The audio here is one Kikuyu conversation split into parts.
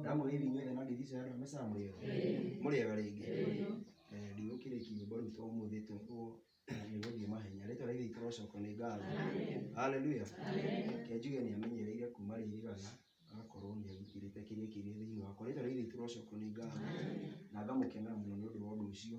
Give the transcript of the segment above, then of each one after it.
ndamwĩra hivi inyuothe no ndithiĩ cionana mĩcaa mũrĩo mũrĩega rĩngĩ Eh, ndigũkĩrĩki nyĩmbo rĩu to mũthĩ tu ũguo nĩgũthiĩ mahenya rĩtwa rĩu itũrocoko nĩ ngatho haleluya kenjuge nĩ amenyereire kuma rĩrĩgana agakorwo nĩ agitĩrĩte kĩrĩa kĩrĩ thĩinĩ wakwa rĩtwa rĩu itũrocoko nĩ ngatho na ngamũkenera mũno nĩ ũndũ wa ũndũ ũcio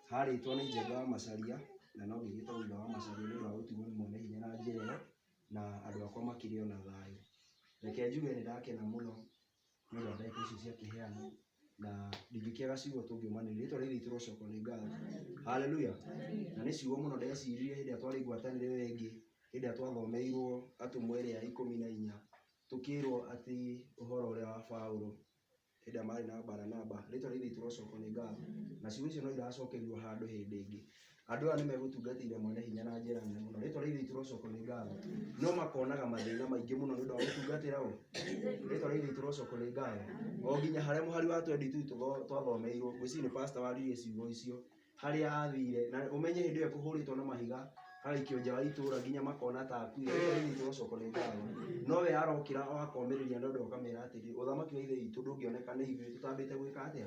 harĩtwo nĩ Njenga wa Macharia, na no nginya ĩtagwo Thutha wa Macharia nĩ ũndũ wa gũtuwo nĩ mwene hinya na njĩra ĩyo, na andũ akwa makĩrĩ o na thayũ. Reke njuge nĩ ndakena mũno nĩ ũndũ wa ndeto icio cia kĩheanwo, na ndingĩkĩaga ciugo tũngiumanĩria. Rĩtwa rĩrĩ riitũ rĩrocokwo nĩ ngatho. Hallelujah! Na nĩ ciugo mũno ndeciririe hĩndĩ ĩrĩa twarĩ ngwatanĩro ĩyo ĩngĩ, hĩndĩ ĩrĩa twathomeirwo Atũmwo ĩrĩa ya ikũmi na inya, tũkĩrwo atĩ ũhoro ũrĩa wa Baũrũ, hĩndĩ ĩrĩa marĩ na Baranaba, rĩĩtwa rĩrĩa ithe witũ ũroocokwo nĩ ngatho, na ciugo icio no iracookerio handũ hĩndĩ ĩngĩ. Andũ aya nĩ megũtungatĩire Mwene Hinya na njĩra nene mũno. Rĩĩtwa rĩa Ithe witũ ũroocokwo nĩ ngatho. No makonaga mathĩna maingĩ mũno nĩ ũndũ wa gũtungatĩra ũũ? Rĩĩtwa rĩa Ithe witũ ũroocokwo nĩ ngatho. O nginya harĩa mũhari wa twendi two twathomeirwo, ngwĩciria nĩ pastor waririe ciugo icio. harĩa athire na ũmenye hĩndĩ ĩyo ekũhũrĩtwo na mahiga araikio nja wa itũra nginya makona ta akuire nĩtũ gũcoko nĩ ndawa no we arokĩra o akomĩrĩria andũ andũ akamera atĩrĩ ũthamaki wa ithe witũ ndũngĩoneka nĩ ithuĩ tũtambĩte gwĩka atĩa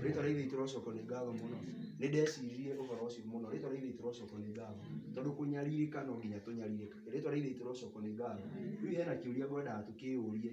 rĩtwa rĩa ithe witũ rocoko nĩ ngatho mũno nĩ ndecirie ũhoro ũcio mũno rĩtwa rĩa ithe witũ rocoko nĩ ngatho tondũ kũnyarirĩka no nginya tũnyarirĩkage rĩtwa rĩa ithe witũ rocoko nĩ ngatho rĩu hena kĩũria ngwendaga tũkĩyũrie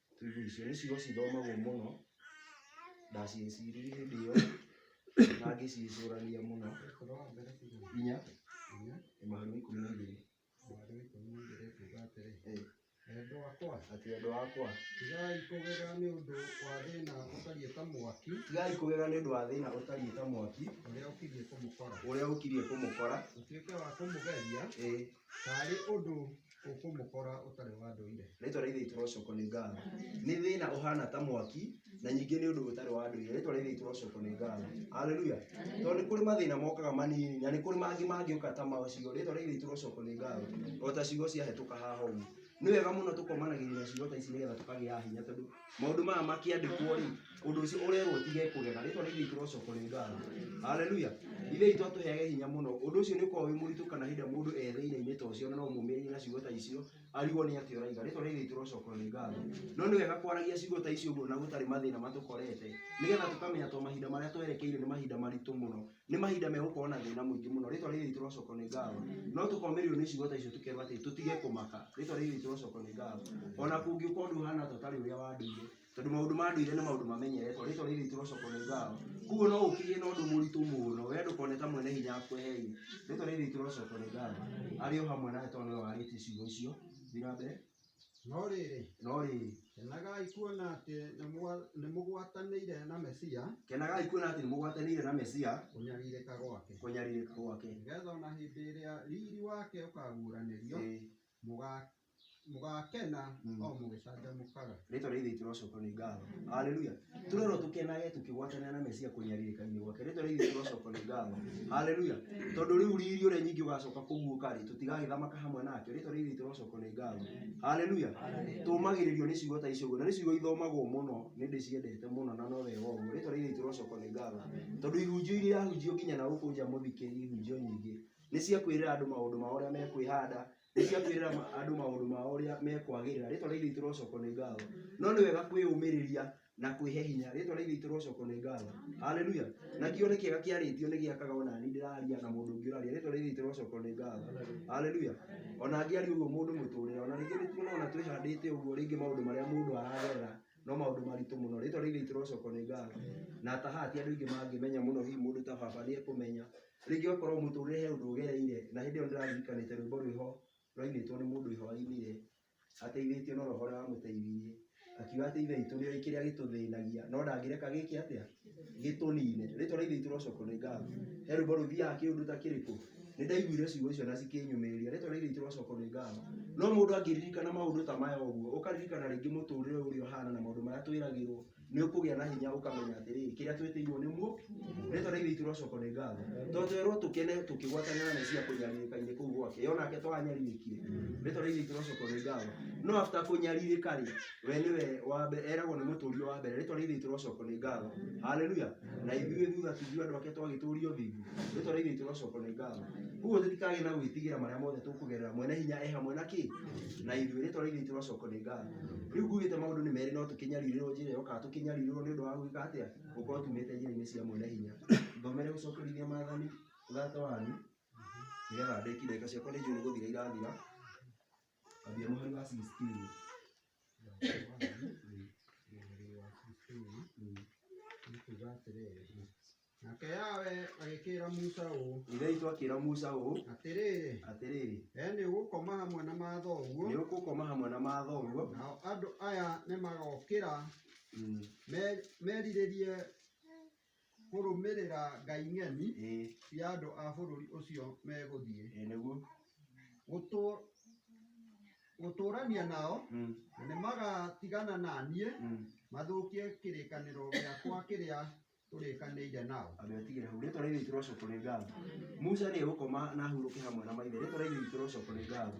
Tuge icio nĩcio cithomagwo mũno, ndaciĩciririe hĩndĩ ĩyo na ngĩciĩcũrania mũno nginya mũhari wa ikũmi na igĩrĩ. Atĩ endwa akwa, tigai kũgega nĩ ũndũ wa thĩna ũtariĩ ta mwaki ũrĩa ũkiriĩ kũmũkora, ĩĩ, Taarĩ ũndũ ũkũmũkora ũtarĩ wa ndũire. Rĩĩtwa rĩa Ithe witũ rĩrocokwo nĩ ngatho. Nĩ thĩna ũhana ta mwaki, na ningĩ nĩ ũndũ ũtarĩ wa ndũire. Rĩĩtwa rĩa Ithe witũ rĩrocokwo nĩ ngatho. Haleluya! Tondũ nĩ kũrĩ mathĩna mokaga manini, na nĩ kũrĩ mangĩ mangĩũka ta macio. Rĩĩtwa rĩa Ithe witũ rĩrocokwo nĩ ngatho. O ta ciugo ciahĩtũka haha ũguo. Nĩ wega mũno tũkomanagĩrĩria ciugo ta ici nĩgetha tũkagĩa hinya tondũ. maũndũ maya makĩandĩkwo rĩ ũndũ ũcio ũrerwo tige kũgega rĩtwa nĩ ithe itũrocoka rĩ ngatho haleluya ithe itũ atũheage hinya mũno ũndũ ũcio nĩ ũkoragwo wĩ mũritũ kana hĩndĩ ĩrĩa mũndũ etheire-inĩ ta ũcio na no mũmĩrĩrie na ciugo ta icio arigwo nĩ atĩ ũraiga rĩtwa nĩ ithe itũrocoka rĩ ngatho no nĩ wega kwaragia ciugo ta icio ũguo na gũtarĩ mathĩna matũkorete nĩgetha tũkamenya to mahinda marĩa twerekeire nĩ mahinda maritũ mũno nĩ mahinda megũkorwo na thĩna mũingĩ mũno rĩtwa rĩrĩ ritũ rocoko nĩ ngatho no tũkomĩrĩrio nĩ ciugo ta icio tũkerwo atĩ tũtige kũmaka rĩtwa rĩrĩ ritũ rocoko nĩ ngatho ona kũngĩũka ũndũ ũhana ta ũtarĩ ũrĩa wa ndũire tondũ maũndũ ma ndũire nĩ maũndũ mamenyeretwo rĩtwa rĩrĩ ritũ rocoko nĩ ngatho kuguo no ũkĩgĩe na ũndũ mũritũ mũno we ndũkone ta mwene hinya akweheire rĩtwa rĩrĩ ritũ rocoko nĩ ngatho arĩ o hamwe nawe tondũ nĩwe warĩtie ciugo icio thiĩ na mbere No rĩrĩ, no rĩrĩ kenagai kuona atĩ nĩmwa- nĩmũgwatanĩire na Mesia kenagai kuona atĩ nĩmũgwatanĩire na mesia kũnyarirĩka gwake, kũnyarirĩka gwake nĩgetha ona hĩndĩ ĩrĩa riri wake ũkaguũranĩrio Ĩĩ. mũga- mũgakena Mm. o mũgĩcanjamũkaga. rĩtwa rĩa ithe itũ rocokwo nĩ ngatho haleluya tũrerwo tũkenage tũkĩgwatanĩra na mesia kũnyarirĩka-inĩ gwake rĩtwa rĩa ithe itũ rocokwo nĩ ngatho haleluya tondũ rĩu riri ũrĩa nyingĩ ũgacoka kũguũka rĩ tũtigagĩthamaka hamwe nake rĩtwa rĩa ithe itũ rocokwo nĩ ngatho haleluya tũmagĩrĩrio nĩ ciugo ta icio ũguo na nĩ ciugo ithomagwo mũno nĩ ndĩciendete mũno na no wega ũguo rĩtwa rĩa ithe itũ rocokwo nĩ ngatho tondũ ihunjio iria irahunjio nginya na gũkũ nja mũthikĩri ihunjio nyingĩ nĩ cia kwĩrĩra andũ maũndũ mao ũrĩa mekwĩhanda nĩ cia kwĩrĩra ma- andũ maũndũ mao ũrĩa mekwagĩrĩra rĩtwa rĩa ithe itũ rocokwo nĩ ngatho no nĩ wega kwĩyũmĩrĩria na kwĩhe hinya rĩtwa rĩa ithe itũ rocokwo nĩ ngatho haleluya na kĩo nĩ kĩega kĩarĩtio nĩ gĩakaga ona niĩ ndĩraria na mũndũ ũngĩ ũraria rĩtwa rĩa ithe itũ rocokwo nĩ ngatho haleluya ona angĩaria ũguo mũndũ mũtũrĩre ona rĩngĩ nĩ tuona ona twĩhandĩte ũguo rĩngĩ maũndũ marĩa mũndũ aragerera no maundu maritu muno ritwa ria ithe rocoko ni ngatho na ta haha ti andu ingi mangimenya muno hihi mundu ta baba ni ekumenya ringi okorwo muturire he undu ugereire na hindi iyo ndirarikanite rwimbo rwiho rwainitwo ni mundu ihoya inire ateithitio no roho uria wamuteithirie akiuga ati ithe witu ni oi kiria gituthinagia no ndangireka giki atia gĩtũnine rĩtwa rĩa ithe witũ rocokwo nĩ ngatho he rwĩmbo rũthiaga kĩũndũ ta kĩrĩkũ nĩ ndaiguire ciugo icio na cikĩnyũmĩrĩria rĩtwa rĩa ithe witũ rocokwo nĩ ngatho no mũndũ angĩririkana maũndũ ta maya ũguo ũkaririkana rĩngĩ mũtũrĩre ũrĩa ũhana na maũndũ marĩa twĩragĩrwo nĩ ũkũgĩa na hinya ũkamenya atĩrĩ kĩrĩa twĩtĩirwo nĩ muo rĩtwa rĩa ithe witũ rocokwo nĩ ngatho to twerwo tũkene tũkĩgwatanĩra na mesia kũnyarirĩka-inĩ kũu gwake yonake twanyarirĩkire rĩtwa rĩa ithe witũ rocokwo nĩ ngatho no after kũnyarirĩka rĩ we nĩwe wa mbere eragwo nĩ mũtũrio wa mbere rĩtwa rĩa ithe itũ rocoko nĩ ngatho haleluya na ithuĩ thutha tithuĩ andũ ake twagĩtũrio thingu rĩtwa rĩa ithe itũ rocoko nĩ ngatho koguo tũtikagĩ na gwĩtigĩra marĩa mothe tũkũgerera mwene hinya e hamwe na kĩ na ithuĩ rĩtwa rĩa ithe itũ rocoko nĩ ngatho rĩu ngugĩte maũndũ nĩ merĩ no tũkĩnyarirĩrwo njĩra ĩyo kana tũkĩnyarirĩrwo nĩ ũndũ wa gwĩka atĩa gũkorwo tumĩte njĩra-inĩ cia mwene hinya thomere gũcokerithia maathani thate wanyu nĩgetha ndĩki ndagĩka ciakwa nĩ njũĩ nĩ gũthira irathira Nake Yawe agĩkĩĩra Musa ũũ, Ithe witũ akĩĩra Musa ũũ, atĩrĩrĩ, atĩrĩrĩ, we nĩũgũkoma hamwe na mathoguo, nĩũgũkoma hamwe na mathoguo, nao andũ aya nĩmagokĩra mm, me- merirĩrie kũrũmĩrĩra ngai ng'eni ĩĩ cia andũ a bũrũri ũcio megũthiĩ ĩĩ nĩguo Gũtũ- gũtũũrania nao Mm, na nĩmagatigana na niĩ mm. mathũkie kĩrĩkanĩro gĩakwa kĩrĩa tũrĩkanĩire nao andå atigä hau rä twa rä itå rocokå nä ngatho musa rä gå koma na hurå ke hamwe na maithe rä twa rä itå rocokå nä ngatho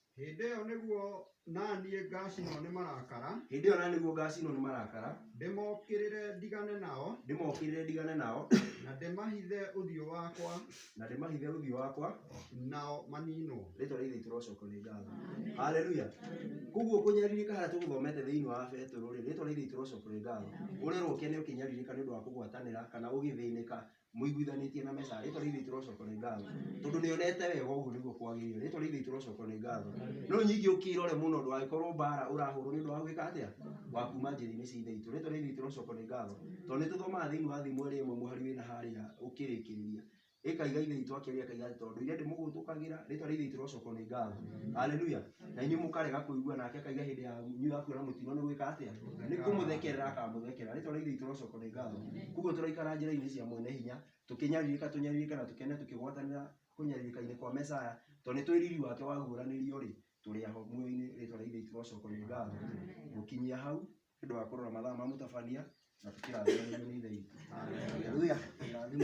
Hĩndĩ ĩyo nĩguo naniĩ ngacinwo nĩ marakara, hĩndĩ ĩyo na nĩguo ngacinwo nĩ marakara ndĩmokĩrĩre ndigane nao, ndĩmokĩrĩre ndigane nao na ndĩmahithe ũthiũ wakwa, na ndĩmahithe ũthiũ wakwa nao maninwo. rĩtwa rĩa ithe witũ rocokwo nĩ ngatho haleluya koguo kũnyarirĩka harĩa tũgũthomete thĩinĩ wa betũrũ rĩ rĩtwa rĩa ithe witũ rocokwo nĩ ngatho ũrerwo ũkene ũkĩnyarirĩka nĩ ũndũ wa kũgwatanĩra kana ũgĩthĩnĩka mũiguithanĩtie na mesa rĩtwa rĩu itũ rocoko nĩ ngatho tondũ nĩ onete wega ũguo nĩguo kwagĩrĩire rĩtwa rĩu itũ rocoko nĩ ngatho no nyingĩ ũkĩrore mũno ndũgagĩkorwo mbara ũrahũrwo nĩ ũndũ wa gwĩka atĩa wa kuma njĩra-inĩ cia ithe itũ rĩtwa rĩu itũ rocoko nĩ ngatho tondũ nĩ tũthomaga thĩinĩ wa thimũ ĩrĩa ĩmwe mũhari wĩna harĩa ũkĩrĩkĩrĩria ĩkaiga ithe itũ akĩaria akaiga atĩ tondũ ndũire ndĩmũgũtũkagĩra rĩtwa rĩu itũ rocoko nĩ ngatho haleluya na inyuĩ mũkarega kũigua nake akaiga hĩndĩ ya nyu ya kuona mũtino nĩ gwĩka atĩa nĩ kũmũthekerera akamũthekera rĩtwa rĩa ithe itũ rocoko nĩ ngatho koguo tũraikara njĩra-inĩ cia mwene hinya tũkĩnyarirĩka tũnyarirĩka na tũkene tũkĩgwatanĩra kũnyarirĩka-inĩ kwa mesaya tondũ nĩ tũĩ riri wake waguũranĩrio rĩ tũrĩ aho muoyo-inĩ rĩtwa rĩa ithe itũ rocoko nĩ ngatho gũkinyia hau nĩ ũndũ wa kũrora mathaa ma mũtabania na tũkĩrathimagĩrio nĩ ithe itũ Hallelujah. Irathimo